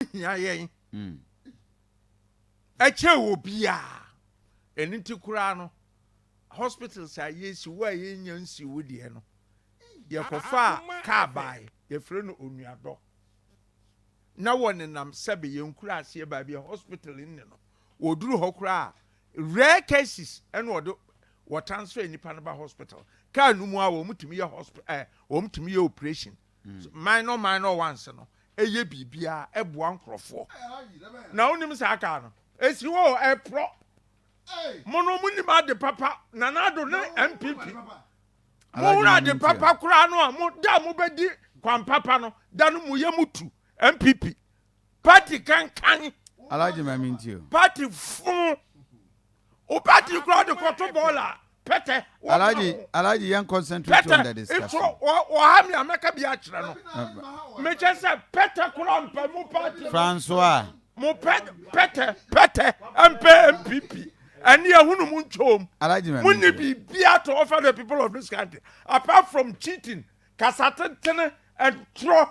hia yɛn ɛkyɛ wɔ biara ɛno nti koraa no hospitals a yɛsi wo a yɛnya nsi wo deɛ no yɛkɔfaa kaa bae yɛfrɛ no onuadɔ na wɔnenam sɛbe yɛnkura aseɛ baabi a hospital nne no wɔduru hɔ koraa rare cases ɛna wɔde wɔtransfer nipa no ba hospital kaa no mu a wɔn tumi yɛ hospital ɛɛ wɔn tumi yɛ operation Minor minor ones no yɛ biribiara ɛboa nkorɔfoɔ na wonim saa car no ɛsi hɔ o ɛporɔ mo no monim ade papa Nana Addo ne NPP mohunu ade papa koraa no a mo da a mobɛdi kwan papa no da no moyɛ mo tu NPP Party kankan. Alaji ma mi nti o. Party funu. O party kura de kɔto bɔɔl a pɛtɛ. Alaji alaji yɛn concentrate on the discussion. Pɛtɛ ifo ɔha mi a mɛka bi akyerɛ no. Mekyɛ sɛ pɛtɛ kura mpɛ mo party. Francois. Mo pɛ pɛtɛ pɛtɛ mpɛ MPP. Ɛne ɛhunu mo ntwom. Alaji ma mi nti o. Mo ni biribi ato offer the people of this country apart from cheating, kasatentene, and trɔ.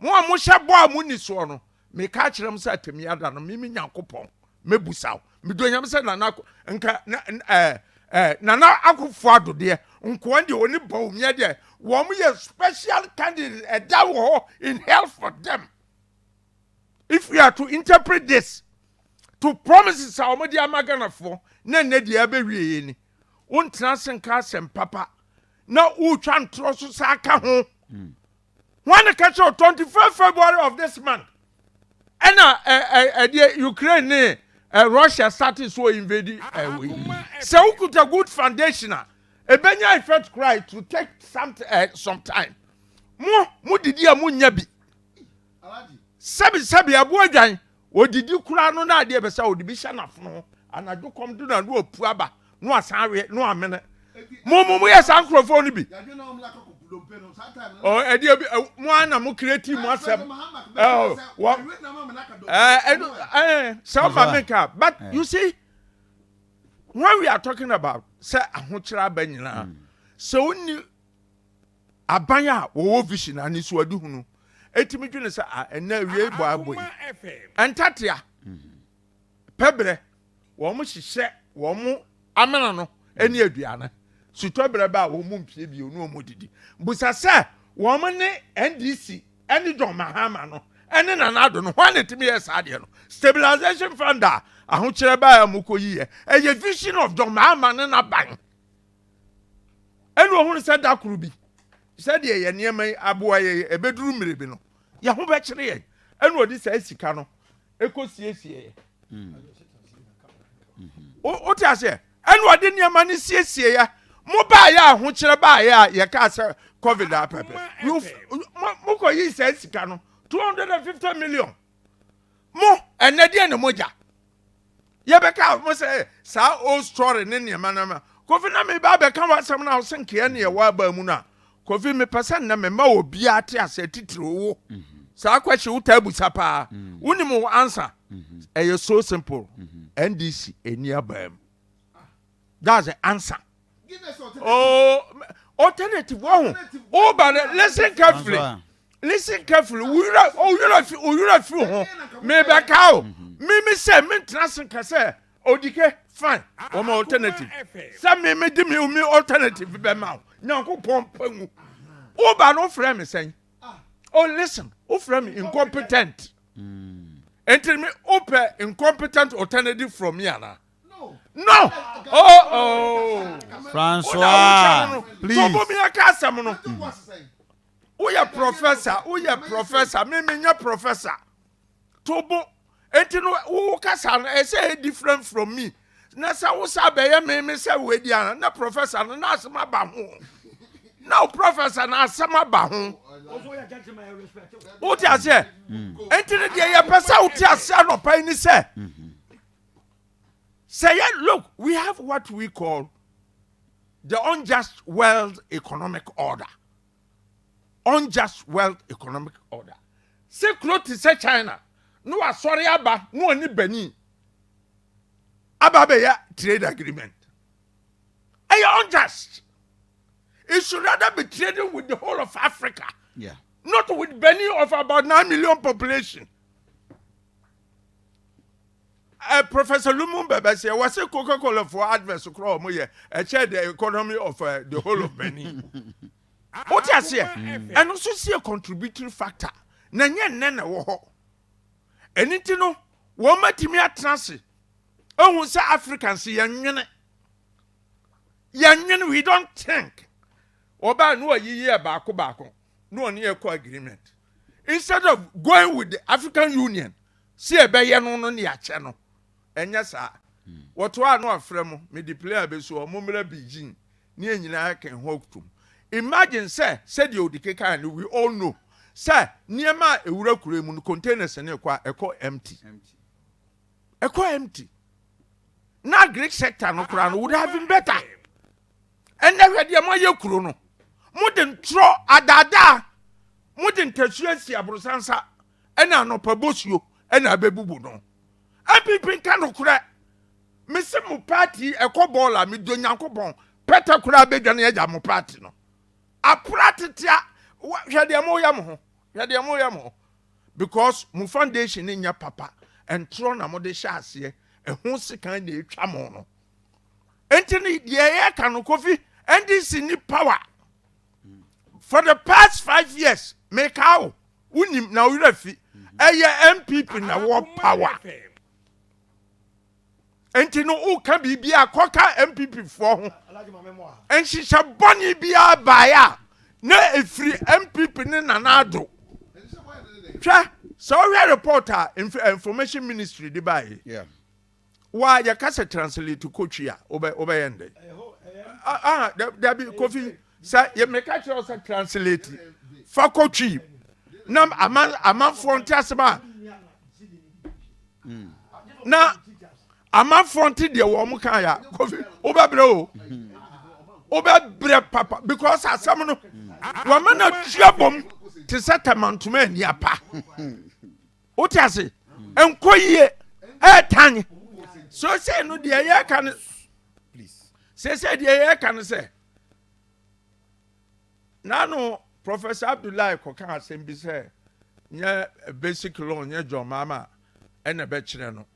Mo a mohyɛ bɔ a monni soɔ no, meka akyerɛ mo sɛ atemmuya da no, me, me Nyankopɔn, mɛbusa wo. Medɔ Nyame sɛ Nana Ako, nka na, ɛɛ, ɛɛ, Nana Akuffo Addo deɛ, nkoa deɛ, ɔne Bawumia deɛ, wɔn yɛ special candidates, ɛda wɔ hɔ in hell for them. If we are to interpret this to promises a wɔde ama Ghanafoɔ, na ɛnɛ deɛ abɛwie yɛ ni. Wontena ase nka asɛm papa, na wotwa ntorɔ so saa ka ho. Mm. wɔn na ka kyerɛ twenty five february of this month ɛna ɛɛ ɛdeɛ ukraine ne ɛɛ eh, russia started so invade ɛɛ wei sɛ wokuta good foundation a ebenya effect kura to take some ɛɛ eh, some time mo mo didi a mo nya bi sɛbi sɛbi ɛboɔ dwan. Odidi koraa no na adeɛ ɛpɛ sɛ ɔde bi hyɛ n'afono ho. Anadwo kɔm do no a na wapu aba na wasan awe na wamene. Mo mo moyɛ saa nkorɔfoɔ no bi? Oh, ɛdeɛ bi eh, mo ara na mo create mo asɛm. Oh, wɔ eh, ɛno eh, sɛ ɔma me nka but eh. you see when we are talking about sɛ ahokyerɛ aba nyinaa hmm. sɛ wonni Aban a wɔwɔ vision, anisoadehu, no tumi dwene sɛ, Ah, ɛnnɛ awiei bɔ a ɛbɔ yi, ɛntatea, pɛbrɛ. Wɔhyehyɛ wɔn amena no ne aduane. Sutɔberɛ ba a, wɔmpue bio na wɔdidi. Bisa sɛ, wɔne NDC ne John Mahama no ne Nana Addo no, hwan na ɛtumi yɛɛ saa adeɛ no? Stabilization Fund a ahokyerɛ baeɛ a wɔkɔyiiɛ, ɛyɛ vision of John Mahama ne n'aban. ɛna ɔhunu sɛ da koro bi sɛdeɛ yɛ nneɛma yi aboa yɛ ɛbɛduru mmere bi no yɛ ho bɛkyere yɛn ɛna ɔde saa sika no ɛkɔsiesie yɛ wote aseɛ ɛna ɔde nneɛma no siesie yɛ mo baayɛ a ahokyerɛ baayɛ a yɛkaa sɛ covid a pɛpɛ mokɔyii saa sika no 250 million mo ɛnɛ deɛ ne mogya yɛbɛka mo sɛ saa old story ne nneɛma no ma kofi na meba abɛka w'asɛm no a wosɛ nkeɛ ne ɛwɔ abaa mu no a kofi mepɛ sɛ nnɛ mema obiara te aseɛ titiri wo mhm. saa kwahye wotaa busa paa mhm. wonim wo ansa mhm. ɛyɛ so simple ndc ɛni abaa mu that's the answer oh alternative wɔn ho ɔba no listen carefully listen carefully wura owura fi owura fi ho mebɛ ka o mímí sɛ mi ntena se ka sɛ odike fine wɔn alternative sɛ mímí di mi mi alternative bɛ ma o nyanko pɔn pɛngu ɔba no ofurɛ mi sɛn oh listen ofurɛ mi incompetent. Mm. nti mi wopɛ incompetent alternative from me ana no oh oh Francois please so bomi aka asɛm no woyɛ professor woyɛ professor me me nyɛ professor tobo enti no wo kasa no ɛsɛ yɛ different from me na sɛ wo sa bɛyɛ me me sɛ wo adi ana na professor no na asɛm aba ho na wo professor na asɛm aba ho wote aseɛ enti no deɛ yɛpɛ sɛ wote aseɛ anɔpa yi ne sɛ mm-hmm. Sɛ yɛ look we have what we call the unjust world economic order unjust world economic order sɛ kuro te sɛ China na wasɔre aba na ɔne Benin aba abɛyɛ trade agreement ɛyɛ unjust it should rather be trading with the whole of Africa yeah. not with Benin of about 9 million population Uh, Professor Lumumba bɛsɛ wɔsɛ Coca-Cola for adverts kora wɔn yɛ ɛkyɛ the economy of uh, the whole of Benin. O ti aseɛ ɛno nso si yɛ contributory factor na nyɛ nnɛ na ɛwɔ hɔ. Ɛni ti no wɔn atumi atena ase ehu sɛ Africans yɛn nwene yɛn nwene we don't think ɔbaa no ɔyiyi yɛ baako baako no ɔne yɛ kɔ agreement instead of going with the African Union. Sɛ ɛbɛyɛ no no ne akyɛ no, ɛnyɛ saa? Wɔtoa ano afrɛ mo, mede plea abesu hɔ, mommra Beijing ne yɛn nyinaa yɛka yɛn ho atom. Imagine sɛ, sɛdeɛ Odi kekaeɛ no, we all know sɛ nneɛma a ɛwura kuro yi mu no, containers no rekɔ a, ɛkɔ empty. Ɛkɔ empty. Na agric sector no koraa no would have been better. Ɛnɛ hwɛ deɛ moayɛ kuro no. Mode ntorɔ adaadaa, mode ntasua si aborosansa. ɛna anɔpa bosuo ɛna ɛbɛbubu no npp nka nokorɛ mese mo party yi ɛkɔ bɔɔl a medɔ nyankopɔn pɛtɛ koraa bɛdwane agya mo party no apra tetea hwɛ deɛ moyɛ mo ho hwɛ deɛ moyɛ mo ho because mo foundation no nyɛ papa ntorɔ na mode hyɛ aseɛ ɛho sekan na ɛtwa mo no nti no deɛ ɛyɛ ka no kofi ndc ni power for the past five years meka o Wonim na wo werɛ fi. Ɛyɛ NPP na wɔ power. Nti no woka biribi a kɔka NPP foɔ ho. Nhyehyɛ bɔne biara baeɛ a na ɛfiri NPP ne Nana Addo. Hwɛ sɛ wohwɛ report a eh, information ministry de baeɛ. Yeah. wa yɛ ka sɛ translate kotwi a wobɛ wobɛ yɛn dɛ ah dabi kofi sɛ yɛ mɛka kyerɛ sɛ translate fa kotwi na aman amanfoɔ nte ase ba hmm. na amanfoɔ nte deɛ wɔn kan ya kofi wobɛ brɛ o wobɛ brɛ papa because asɛm no hmm. wɔn mɛ na tua bom te sɛ tɛmantoma ani apa. wote ase nkɔ yie ɛɛtan so sɛ no deɛ yɛka no sɛ sɛ deɛ yɛka no sɛ nano professor abdullahi kɔka asɛm bi sɛ nyɛ basic law nyɛ john mama ɛna bɛkyerɛ no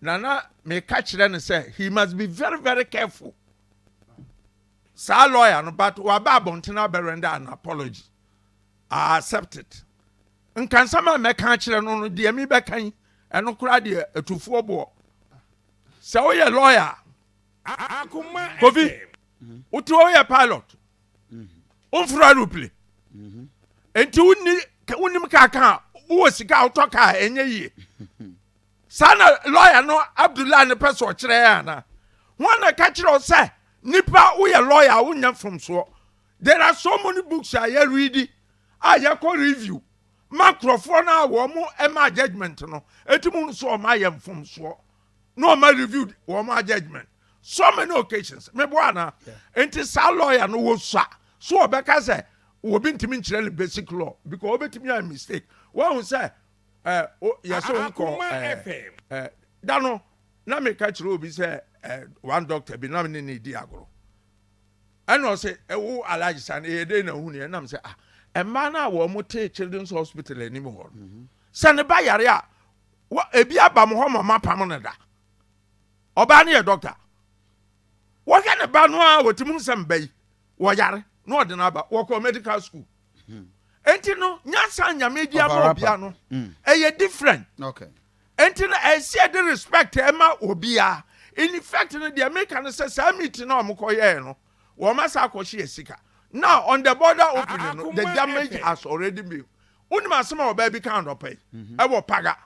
nana meka kyerɛ no sɛ he must be very very careful saa lawyer no but waba abɔntene abɛrɛndɛ an apology i accept it Nka nsɛm a mɛka akyerɛ no no, deɛ mebɛka yi, ɛno koraa deɛ atufoɔ boɔ. Sɛ woyɛ lɔya a, Kofi, wote hɔ woyɛ pilot, womforo aeroplane, enti wonni wonim kaa ka a wowɔ sika a wotɔ kaa ɛnyɛ yie. Saa na lɔya no Abdullah no pɛ sɛ ɔkyerɛ yɛ ana? Ho na ɛka kyerɛ wo sɛ nipa woyɛ lɔya a wonyɛ mfomsoɔ. There are so many books a yɛ read a yɛ kɔ review ma nkorɔfoɔ no a wɔn ɛma judgement no ɛti mu nso wɔn ayɛ mfomsoɔ na wɔn review wɔn a judgement so many occasions me boa na nti saa lawyer no wɔ sua so wɔbɛ ka sɛ wɔbi ntumi nkyerɛ no basic law because wɔbɛ tumi ayɛ mistake wɔn ho sɛ ɛɛ yɛ sɛ wɔn kɔ ɛɛ ɛɛ da no na me ka kyerɛ obi sɛ ɛɛ one doctor bi na me ne ne di agorɔ. ɛna ɔsɛ ɛwo alhaji sani ɛyɛ dɛ na ohun yɛ nam sɛ ah mmaa no a wɔn te children's hospital anim hɔ no mhm. sɛ ne ba yare a wɔ ebi aba mo hɔ ma ɔma pam no da ɔbaa no yɛ dɔkta wɔhwɛ ne ba no a wɔtumi sɛ mba yi wɔyare na ɔde no aba wɔkɔ medical school mhm. nti no nyansa nyame di ama obia no mhm. ɛyɛ different Enti no ɛsɛ yɛde respect ma obia. In effect no deɛ meka no sɛ saa meeting no a wɔn kɔ yɛɛ no wɔn asan akɔhye yɛ sika. Now on the border opening no the damage has already been wonim asɛm a ɔbaa bi kaa anɔpa yi ɛwɔ paga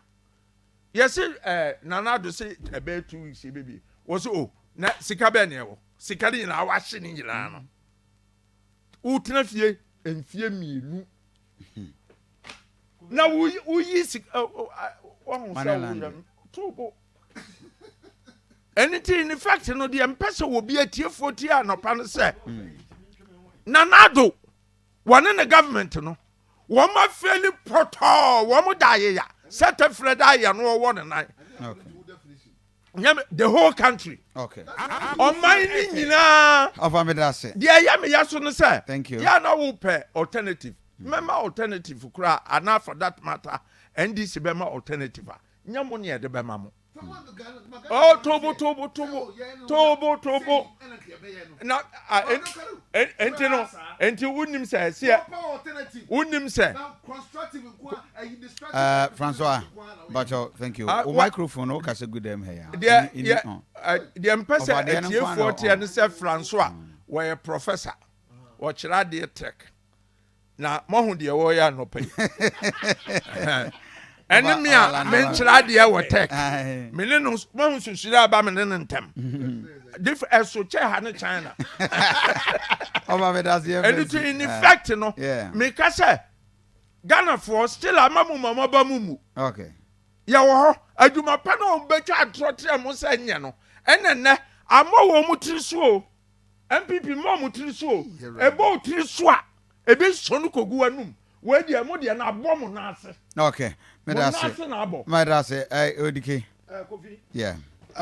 yɛse eh, Nana Addo se ɛbɛyɛ two weeks yɛbɛbie wɔse oh na sika bɛɛ na ɛwɔ sika no nyinaa wahye ne nyinaa no wotena fie mfie mmienu na woyi sika wahu sɛ woyɛ no to bo ɛno nti in fact no deɛ mpɛ sɛ wɔbi atiefoɔ tie anɔpa no sɛ nanado wɔne ne government no wɔn afɛli pɔtɔɔ wɔn da ayeya sɛ tɛfrɛ da ayɛ no ɔwɔ ne nan nyame the whole country okay ɔman ne nyinaa ɔfa mi da se deɛ ɛyɛ mi ya so no sɛ thank you yà na wo pɛ alternative mɛma alternative koraa ana for that matter ndc bɛma alternative a nyɛ mo ne ɛde bɛma mo ɔtobo tobo tobo tobo tobo. na ɛnti no ɛnti wonim sɛ ɛseɛ wonim sɛ uh, Francois Bacho thank you uh, o microphone o kasa gu dɛm ha ya deɛ deɛ mpɛ sɛ atiefoɔ teɛ ne sɛ Francois wɔyɛ professor wɔkyerɛ adeɛ tech Na moahu deɛ wɔreyɛ anɔpa yi. Ɛne me a menkyerɛ adeɛ wɔ tech. Me ne no moahu susuri aba me ne no ntɛm. Dif ɛso kyɛ ha ne China. Ɔba me daseɛ fɛ. Ɛno ti in effect no. Meka sɛ Ghanafoɔ still ama mu ma moaba mu mu. Okay. Yɛwɔ hɔ adwuma pa na wɔbɛtwa atorɔtorɛ mo sɛ nyɛ no. Ɛnɛ nnɛ ama wɔn tiri so o. NPP mma ɔmo tiri so o. Ɛbɔ wo tiri so a, ebi nsɔ no kogu w'anum. Wei deɛ mo deɛ no abɔ mo nan ase. Okay, meda ase. Mo nan ase na abɔ. Meda ase, eh, Odike. Eh, Kofi. Yeah. Eh.